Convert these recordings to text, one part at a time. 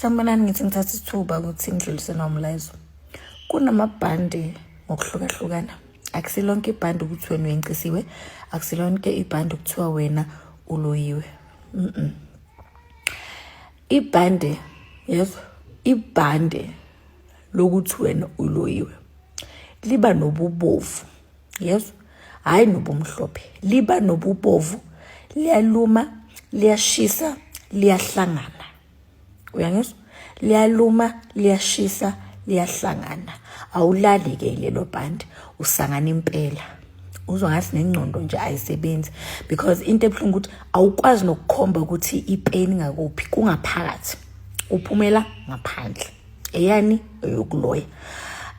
Sanibonani ngithi ngithatha isithuba ukuthi ngidlulise nomlayezo. Kunamabhande ngokuhlukahlukana. Akusilonke ibhande ukuthi wena uyencisiwe, akusilonke ibhande kuthiwa wena uloyiwe. Mhm. Ibhande yezwa ibhande lokuthi wena uloyiwe liba nobubovu yezwa hhayi nobumhlophe liba nobubovu liyaluma liyashisa liyahlangana uyangizwa liyaluma liyashisa liyahlangana awulali ke lelo bhandi usangana impela uzwa ngathi nengcondo nje ayisebenzi because into ebuhlungu ukuthi awukwazi nokukhomba ukuthi ipeni ngakuphi kungaphakathi uphumela ngaphandle eyani eyokuloya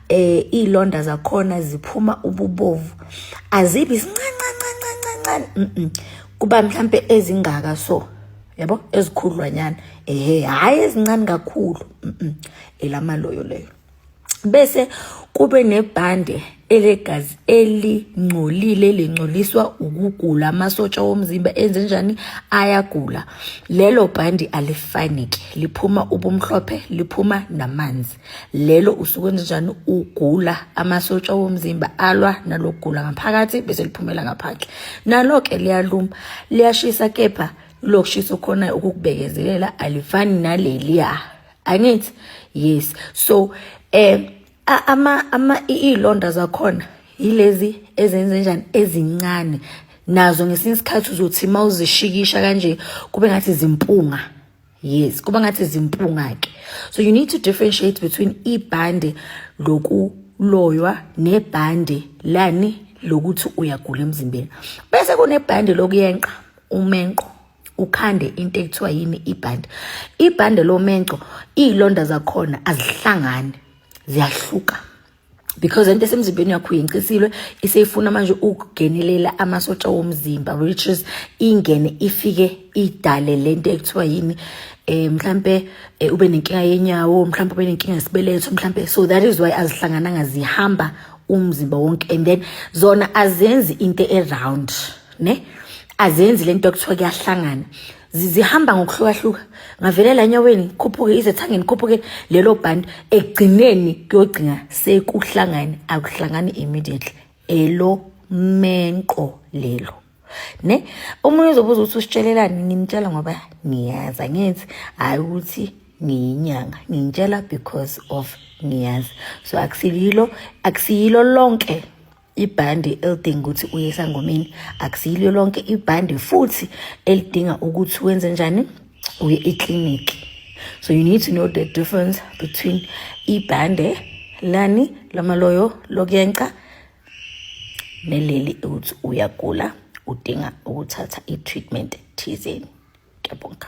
eh izilonda zakhona ziphuma ububovu azibi sincancancancancancane mhm kuba mhlambe ezingaka so yabo ezikhudlwanyana ehe hayi ezincane kakhulu mhm elamaloyo leyo bese kube nebhande elegazi elingcolile lingcoliswa ukugula amasotsha womzimba enzenjani ayagula lelo bhandi alifanike liphuma ubumhlophe liphuma namanzi lelo usuke enzenjani ugula amasotsha womzimba alwa nalokugula ngaphakathi bese liphumela ngaphandle nalo ke liyaluma liyashisa kepha lokushisa khona ukukubekezelela alifani naleliya angithi yes so eh ama ama iy'londa zakhona yilezi ezenzenjani ezincane nazo ngesinye isikhathi uzothi uma uzishikisha kanje kube ngathi zimpunga yes kuba ngathi zimpunga-ke so you need to differentiate between ibhande lokuloywa nebhande lani lokuthi uyagula emzimbeni bese kunebhande lokuyenqa umenqo ukhande into ekuthiwa yini ibhande ibhande lomenco iy'londa zakhona azihlangani ziyahluka because into esemzimbeni yakho uyincisilwe iseyifuna manje ukugenelela amasotsha womzimba which is ingene ifike idale lento ekuthiwa yini eh mhlambe eh, ube nenkinga yenyawo mhlambe ube nenkinga yesibeletho mhlambe so that is why azihlangananga zihamba umzimba wonke and then zona azenzi into eround ne azenzi lento kuthiwa kuyahlangana zihamba ngokuhlukahluka ngavelela enyaweni khuphuke izethangeni khuphuke lelo bhandi ekugcineni kuyogcina sekuhlangane akuhlangani immediately elo menqo lelo ne omunye uzobuza ukuthi usitshelelani nginitshela ngoba ngiyazi angithi hhayi ukuthi ngiyinyanga ngintshela because of ngiyazi so akusiyilo akusiyilo lonke ibhande elidinga ukuthi uye esangomeni akusiyilo lonke ibhande futhi elidinga ukuthi wenze njani uye ekliniki so you need to know the difference between ibhande lani lamaloyo lokuyenca neleli ukuthi uyagula udinga ukuthatha i-treatment thizeni kuyabonga